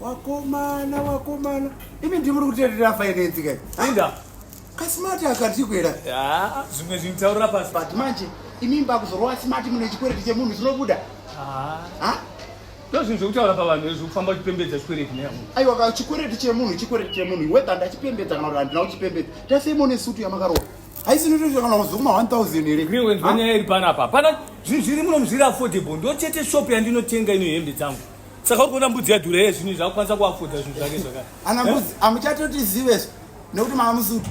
wakomana wakomana imi ndimuri kuterera finance kai inda kasmart akatikwera ah, zvimwe zvintaurira pasi but manje imi mbakuzorova smart mune chikwereti chemunhu chinobuda ah. ndozvinhu zvekutaura pavanhu izvi kufamba uchipembedza chikwereti neamunhu aiwa ka chikwereti chemunhu chikwereti chemunhu whether ndachipembedza kana kuti handina kuchipembedza tasemo nesutu yamakarova haisi notoita kana kuzokuma 1000 here greenwens vanyaya iri panapa pana zvinhu zviri muno muzviri affordable ndochete shop yandinotenga ino hembe dzangu saka uri kuona mbudzi yadhura ye zvinhu zvakukwanisa kuafodha zvinhu zvake zvakati ana mbudzi amuchatotizive eh? nekuti mava musutu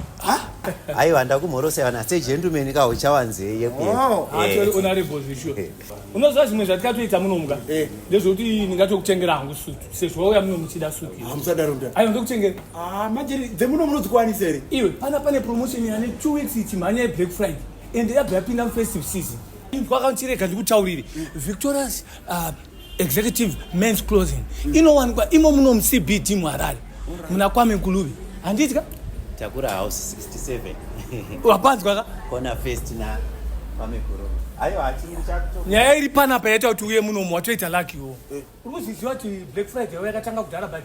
aiwa ndakumhorosa vana segentumeni ka uchawanzei yekuyeonarevozvishuwa oh. eh. unoziva zvimwe zvatikatoita munomuka eh. ndezvekuti ndingatokutengera hangu sutu sezvo wauya muno muchida sutuaiwa ah, ndokutengera ah, majeri dzemuno munozikwanisa here iwe pana pane promotion yane two weeks ichi mhanya yeblack friday and yabva yapinda mufestive season kwakachirega ndikutaurire victorious ah, executive mens clothing mm. inowanikwa imo muno mucbt muharare right. muna kwame nkuluvi handiti ka takura house 67 wapanzwa ka kona first na kwame kuro ayo hachiri chakuto nyaya iri panapa yaita kuti uye munomu watoita lucky wo eh. uri kuzviziva kuti black friday yavo yakatanga kudhara but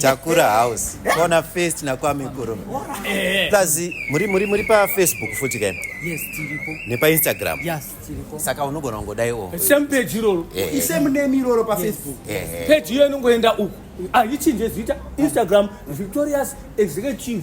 Takura house. Kona first na kwa mikuru. Eh. Plus muri muri muri pa Facebook futi kai. Yes, tiripo. Ne pa Instagram. Yes, tiripo. Saka unogona kungodai o. Oh. Same page iroro. Eh. I same name iroro pa Facebook. Eh. Page iyo inongoenda uku. Aichinje ah, zita Instagram Victorious Executive